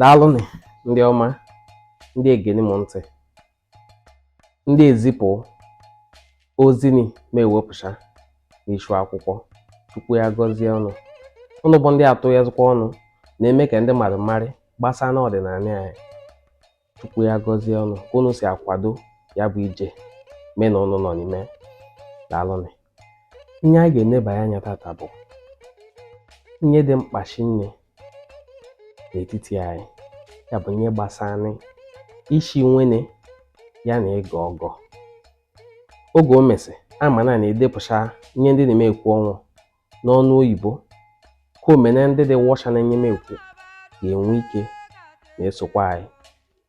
daalụnị ndị ọma ndị egeni m ntị ndị ezipụ ozini ma ewepụcha n'ishu akwụkwọ Chukwu ya gọzie ụnụ ụnụ bụ ndị atụyazikwa ọnụ na-eme ka ndị mmadụ marị gbasara ọdịnala anyị Chukwu ya gọzie ụnụ ka ụnụ si akwado ya bụ ije mụ na ụnụ nọ n'ime daalụnị ihe anyị ga-enebanye anya tata bụ ihe dị mkpa shinne n'etiti anyị ya bụ ihe gbasara isi nwene ya na ịgọ ọgọ oge o mesị ama na na-edepụcha ihe ndị na m ekwu ọnwụ n'ọnụ oyibo ka o mee na ndị dị wọcha nnye m ekwu ga-enwe ike na-esokwa anyị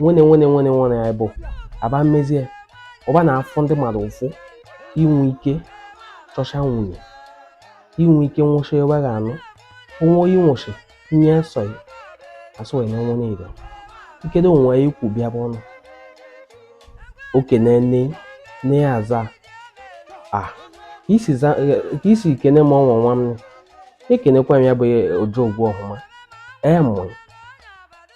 nwene nwene nwene nwene bụ aba mmezie ụba na-afụ ndị mmadụ ụfụ i nwe ike chọcha nwene i nwe ike nwụcha ebe ga anụ onwe onye nwụchi nye sọ ya asụ wee na nwene ido ikedo onwe ya ikwu bịa bụ ọnụ okene nne nne ya aza a ka isi za ka isi kene m ọnwa nwa m ekenekwa m ya bụ ojo ogwu ọhụma ee mụrụ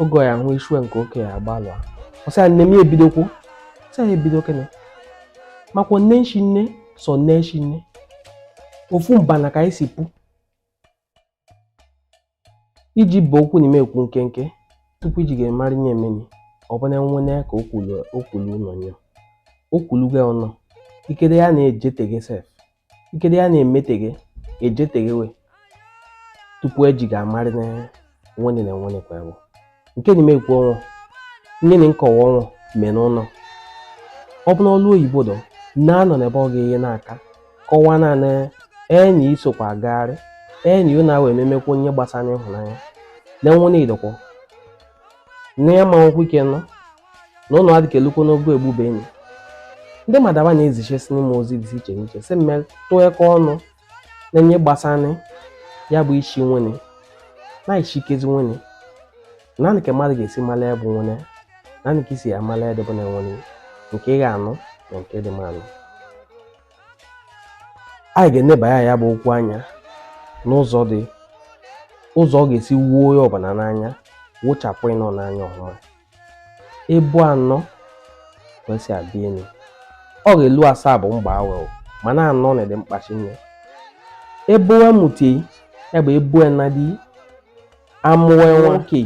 oge ya hụ ishue nke oke ya agbalụa ọsị ya nne m ya ebidokwu sị ya ebido kene makwa nne shinne sọ nne shinne ofu mbana ka anyị si pụ iji bụ okwu na m ekwu nkenke tupu e ji ga-amara nnye emeni ọ bụ na nwene ka okwulu ụlọ nye okwulu gị ọnụ ikede ya na-ejeteghị sef Ikede ya na-emeteghe ejeteghewe tupu eji ga-amarị na nwene na nwene kwa ewu. Nke na m ekwu ọnwụ nnye na m kọwa ọnwụ mee n'ụlọ. Ọ bụ n'ọlụ oyibo dọ na-anọ n'ebe ọ ga-enye n'aka kọwaa naanị enyi isokwa agagharị enyi ụ na-awa ememekwa nnye gbasara ịhụnanya na nwene idọkwọ na ya ma nwekwa ike nọ na ụnụ adịka elukwo n'ogo egbube enyi ndị mmadụ ba na-ezichesini m ozi dị iche n'iche sị m tụyekwa ọnụ na nnye gbasara ya bụ isi nwene na isikezi nwene naanị ka mmadụ ga-esi mara ya bụ nwene naanị ka e si amara ya dịbụ na nwene nke ị ga-anụ na nke dị mma ịnụ anyị ga-eneba ya ya bụ okwu anya n'ụzọ ọ ga-esi woo onye ọbụla n'anya wochapụ ụnụ n'anya ọhụma ebu anọ ka e si abịa enu ọ ga-elu asaa bụ mgba awe mana anọ na dị mkpa shinne ebe a mụta ya bụ ebu nnadi amụwe nwoke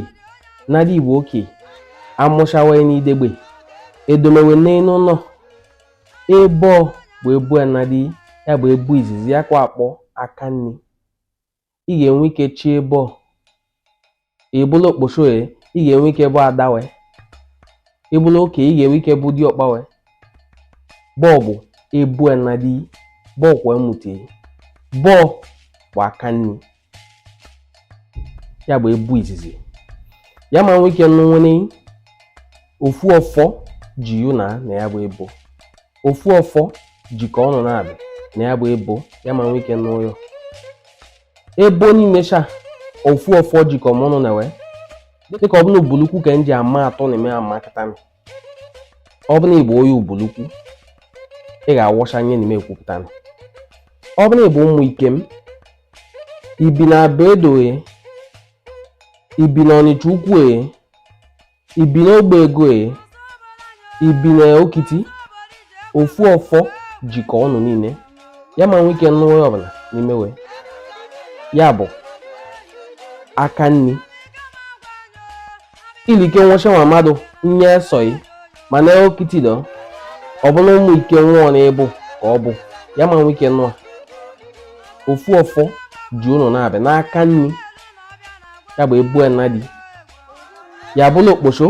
nnadi ị bụ oke amụchawe n'idegbe edomewe n'elu ụnọ ebe bụ ebu nnadi ya bụ ebu izizi ya kwa akpọ aka nri ị ga-enwe ike chị ebo ị bụlụ okposho e ị ga-enwe ike bụ ada we ị bụlụ oke ị ga-enwe ike bụ diọkpa we bọọbụ ebo nna di bọọkwa emute bọọ bụ aka nni ya bụ ebo izizi ya ma nwee ike nụ nwene ofu ọfọ ji yu na na ya bụ ebo ofu ọfọ jikọ ụnụ nabị na ya bụ ebo ya ma nwee ike nụ ya o ebo niile cha ofu ọfọ jikọ ụnụ na we dịka ọ bụ na Ubulukwu ka m ji ama atụ na eme ama kịta ma ọ bụ na ị bụ onye Ubulukwu ị ga-awọcha nye n'ime ekwupụta ma ọ bụ na ị bụ ụmụ Ikem i bi na Abuedo i bi na Ọnịcha ukwu e I bi n'Ogbego e? I bi n'Okiti? Ofu ọfọ jikọ ụnụ niile. Ya ma nwee ike nụ onye ọbụla n'ime we. Ya bụ aka nni. Ilike nwụcha nwa mmadụ nye esọghị mana Okiti dọ ọ bụ na ụmụ Ikem o na ị bụ ka ọ bụ ya ma nwee ike nụ a. Ofu ọfọ ji ụnụ nabị n'aka nni ya bụ ebo nna di ya bụlụ okposo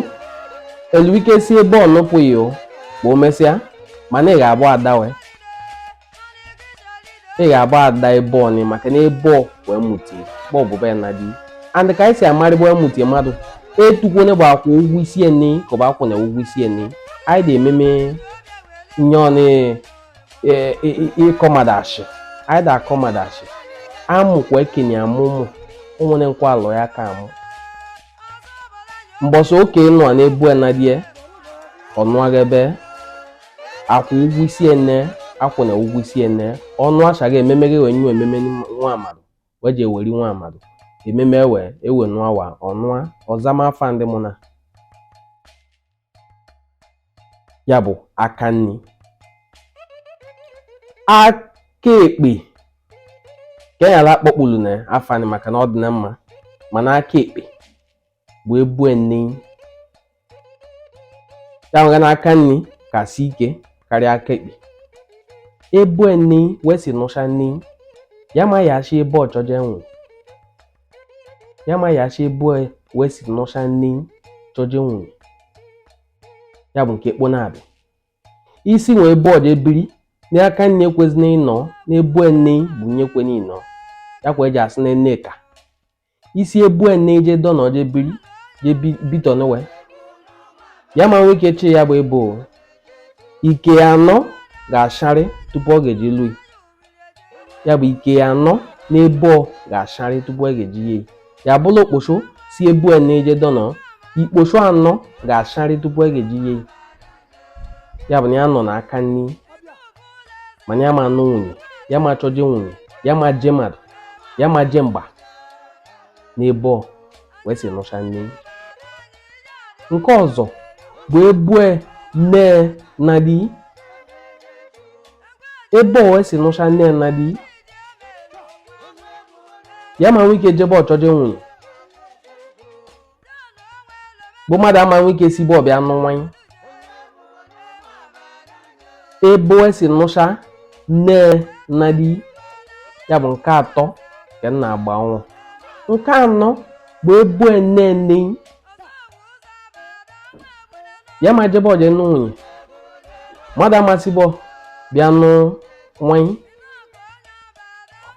eluike si ebo nụpụghị o ma o mesịa mana ị ga-abụ ada we ị ga-abụ ada ebo ọnị maka na ebo we mụtie bụ ọ bụ ebo nna di and ka anyị si amarị ebo we mụtie mmadụ etukwone bụ akwụ ụgwọ isi nne ị ka ọ bụ akwụna ụgwọ isi nne ị anyị dị ememe nye ọnị e, e, e, ịkọ mmadụ ashị anyị da akọ mmadụ ashị amụkwa ekenye amụ ụmụ onwere nkwa alụ ya ka amụ mbọsọ oke ị nọ na ebo nna di e ọnụagha ebe akwụ ụgwọ isi nne ị akwụna ụgwọ isi nne ị ọnụ achaghị ememe gị wee nye ememe nwa mmadụ wee ji eweri nwa mmadụ ememe ewe ewe nụawa ọnụa ọzama afa ndị mụ na ya bụ aka nni aka ekpe ka enyala akpọkpulu na afọ anyị maka na ọ dị na mma mana aka ekpe bụ ebo nne ya mega na aka nni kasị ike karịa aka ekpe ebo nne we si nụcha nne ya ma ya achị ebe ọ chọje nwe ya ma ya achị ebo we si nụcha nne chọje nwe ya bụ nke kpo na-abịa isi nwee bọọdụ je biri n'aka nne ekwezina ịnọ n'ebo nne bụ nye kwe n'ịnọ ya kwa eji asị na nne ka isi ebo nne je dọnọ je biri je bi- bitọ nwe ya ma nwee ike chị ya bụ ebo ike anọ ga-acharị tupu ọ ga-eji lui ya bụ ike ya anọ n'ebe ọ ga-acharị tupu e ga-eji ya ya bụrụ okposo si ebu a na-eje dọnọ ikposo anọ ga-acharị tupu e ga-eji ya ya bụ na ya nọ n'aka nni mana ya ma anụ nwunye ya ma chọje nwunye ya ma je mmadụ ya ma je mgba n'ebe ọ wee si nụcha nne nke ọzọ bụ ebo nne na di ebo wee si nụcha nne na di ya ma nwee ike je ebo chọje nwunye bụ mmadụ ama nwee ike si ebo bịa nụ nwanyị ebo e si nụcha nne na di ya bụ nke atọ ka m na-agba ọnwụ nke anọ bụ ebo nne nne ya ma je ebo je nụ nwunye mmadụ ama si ebo bịa nụ nwanyị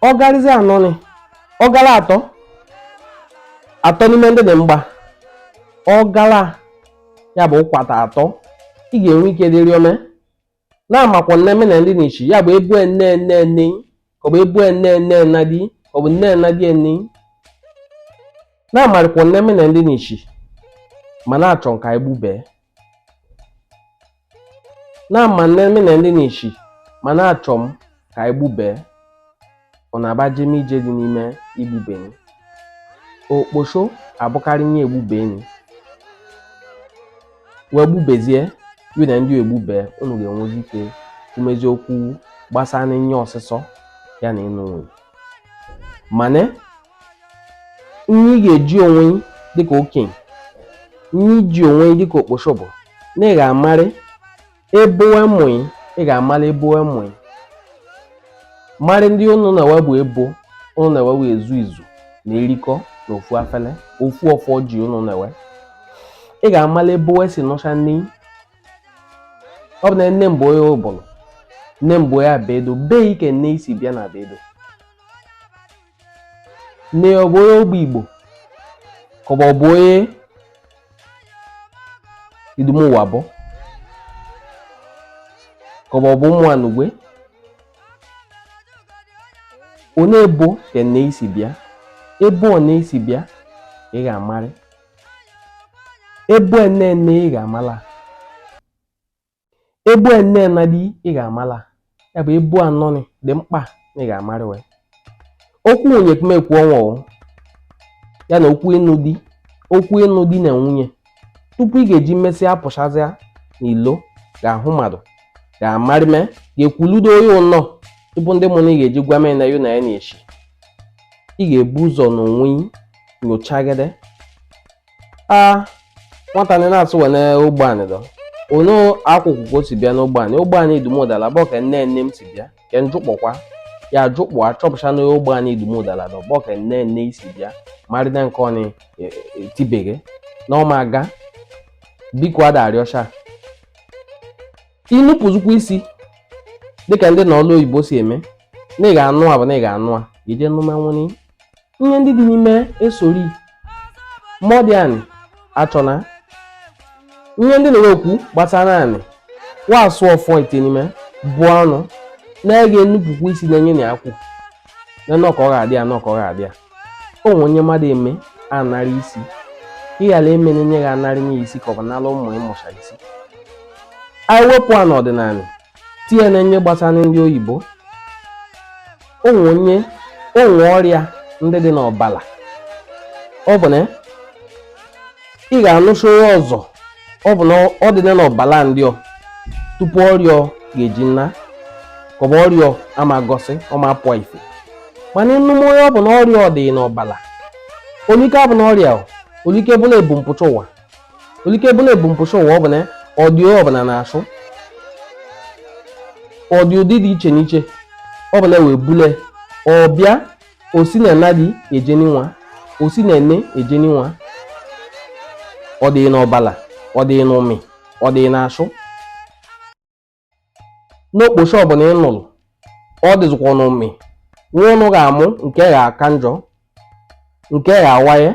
ọ garịzi anọ ni ọ gala atọ atọ n'ime ndị dị mgba ọ gala ya bụ ụkwata atọ ị ga-enwe ike dịrị ome na-amakwa nne me na ndị n'ichi ya bụ ebo nne nne nne ka ọ bụ ebo nne nne na di ka ọ bụ nne na di nne na-amarịkwa nne me na ndị n'ichi ma na-achọ m ka anyị gbubee na-ama nne me na ndị n'ichi ma na-achọ m ka anyị gbubee ọ na-aba jem ị jezi n'ime igbube nị okposho abụkarị nye igbube nị wee gbubezie yu na ndị egbube unu ga-enwezi ike kwumezi okwu gbasara nye ọsịsọ ya na ịnụ nwunye mana ihe ị ga-eji onwe dịka okenye ihe iji onwe dịka okposho bụ na ị ga-amarị Ebo wee mụ ị, ị ga-amara ebo wee mụ ị. Mara ndị ụnụ na wee bụ ebo, ụnụ na wee ezu izu na-erikọ na ofu afele, ofu ọfọ ji ụnụ na wee. Ị ga-amara ebo wee si nụcha nne. Ọ bụ na nne m bụ onye Ubulu, nne m bụ onye Abuedo, ebee ka nne ị si bịa na Abuedo. nne ya ọ bụ onye ogbe igbo ka ọ bụ onye idumuwabo ka ọ bụ ụmụ anugwe onye ebo ka nne ị si bịa ebo nne ị si bịa ị ga-amarị ebo nne ị ga-amala ebo a nne nnadi ị ga-amala ya bụ ebo anọ nị dị mkpa na ị ga-amarị we okwu nwunye ka m ekwu ọnwa o ya na okwu ịnụ di okwu ịnụ di na nwunye tupu ị ga-eji mesịa pụchazịa n'ilo gaa hụ mmadụ ga-amarị me ga-ekwuludo onye ụnọ tupu ndị mụ na ị ga-eji gwa mee na yụ na ya na-echi ị ga-ebu ụzọ n'onwe gị nyochagide a nwata ni na-asụ wene ogbe anyị dọ ụnọ akwụkwọ ka o si bịa n'ogbe anyị ogbe anyị idumodala bụ ka nne nne m si bịa ka njụkpọkwa ya ajụkpọ achọpụcha na ogbe anyị idumodala dọ bụ ka nne nne i si bịa marịda nke ọnị e, e, tibeghe na ọ ma aga biko ada arịọcha inupụzukwa isi dịka ndị na ọlụ oyibo si eme na ị ga-anụ a bụ na ị ga-anụ a i je nụma nwunne i ihe ndị dị n'ime esori mọdị anị achọna ihe ndị na-enwe okwu gbasara anị wasụ ofu ite n'ime bụ ọnụ na ị ga-enupụkwu isi na-enye na akwụ na nọkọ ọ ga-adị ya nọkọ ọ ga-adị ya o nwere onye mmadụ eme anarị isi ka ị ghara eme na enye gị anarị nye isi ka ọ bụ nara ụmụ ịmụcha isi anyị wepụ a n'ọdịnanị tinye na nye gbasara ndị oyibo o nwe o nwe ọrịa ndị dị n'ọbala ọ bụ na ị ga-anụsị onye ọzọ ọ bụ na ọ dị n'ọbala ndị ọ tupu ọrịa ga-eji nna ka ọ bụ ọrịa ama gosi ọ ma apụa ife mana ị nụma ya ọ bụ na ọrịa ọ dị n'ọbala olike bụ na ọrịa olike bụ na ebumpụcha ụwa olike bụ na ebumpụcha ụwa ọ bụ na ọ dị ọ bụ na n'asụ ọ dị ụdị dị iche n'iche ọ bụ na wee bule ọ bịa o si na nnadi ejeni nwa o si na nne ejeni nwa ọ dị n'ọbala ọ dị n'ụmị ọ dị n'asụ n'okpochi ọ bụ na ị nụrụ ọ dịzikwa n'ụmị nwa ụnụ ga-amụ nke ga-aka njọ nke gha awaye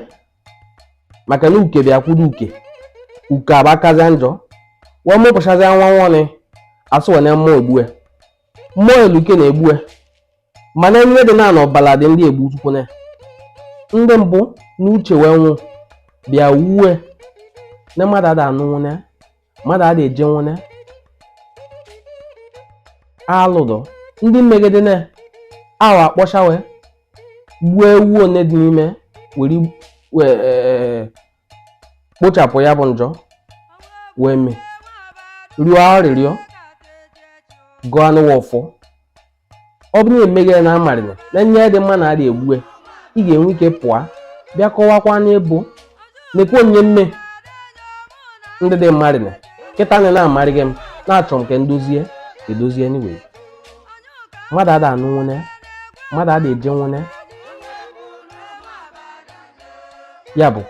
maka na uke bịa kwudo uke uke abakazịa njọ wee mụpụchazịa nwa nwanị asị wee na mmụọ egbue mmụọ eluke na egbue mana ihe dị na n'ọbala dị ndị egbu tukwune ndị mbụ na uche wee nwụ bịa wuwe na mmadụ ada anụ nwunne a mmadụ ada eje nwunne alụdụ ndị megide na ahụ a kpọcha we gbuo ewu ọ na-adị n'ime were wee ee, kpochapụ ya bụ njọ wee mee rịọ arịrịọ gọọ anị ọfọ ọ bụrụ na emeghe na amarịna na nye dị mma na adị egbue ị ga-enwe ike pụọ bịa kọwakwa n'ịbụ nekwe onye mme ndị dị mmarịna kịta na na-amarịghị m na-achọ m ka ndozie edozie anyway mmadụ ada anụ nwene mmadụ ada eje nwene ya bụ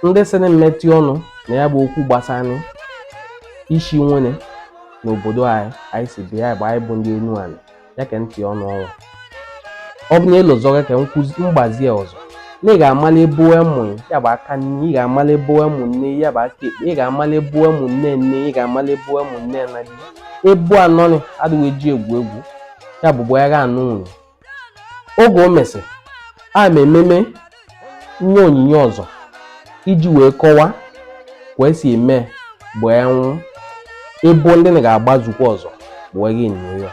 ndị sị na m metụ ọnụ na ya bụ okwu gbasara isi nwene n'obodo anyị anyị si bịa bụ anyị bụ ndị enuani ya ka ntị ọnụ ọnwa ọ bụ na ịlụzọga ka m gbazie ọsọ na ị ga-amala ebo ụmụ ya bụ aka nni ị ga-amala ebo ụmụ nne ya bụ aka ekpe ị ga-amala ebo ụmụ nne nne ị ga-amala ebo ụmụ nne nna dị ebo anọ adịghị eji egwu egwu ya bụ ebo a ga-anụ nwunye oge o mesị a ma ememe nye onyinye ọzọ iji wee kọwa ka esi eme bụ ewu ebo ndị na ga-agbazukwa ọzọ wee gị nyo ya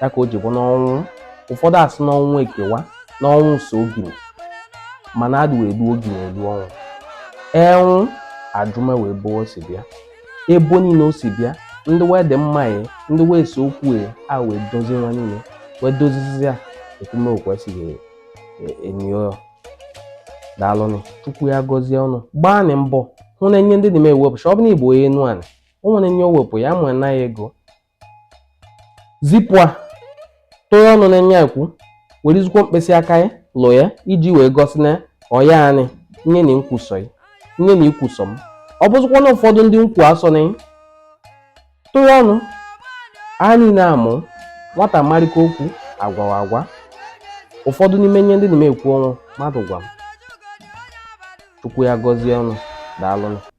ya ka o ji bụ n'ọnwụ ụfọdụ asị n'ọnwụ ekewa n'ọnwụ so ogini mana adị wee duo ogini elu ọnwụ enwụ ajụma we ebo o si bịa ebo niile o si bịa ndị wee dị mma ya ndị wee so okwu ya a wee dozie wa niile wee dozizi ya ekwume okwu esighị enyo daalụnụ chukwu ya gọzie ọnụ gbaanị mbọ hụ na enye ndị dị m ewepụcha ọ bụ onye igbo onye enuani o nwere enye o wepụ ya ma na ya ego zipụ a tụọ ọnụ na nya ekwu were izikwo mkpịsị aka ya lụ ya iji wee gosi na ọya anyị nye na nkwusọ ya nye na ikwusọ m ọ bụzikwa na ụfọdụ ndị nkwu asọ na tụọ ọnụ anyị na-amụ nwata marịka okwu agwawa agwa ụfọdụ n'ime ihe ndị na-eme ekwu o nwe mmadụ gwa m chukwu ya gọzie ọnụ daalụnụ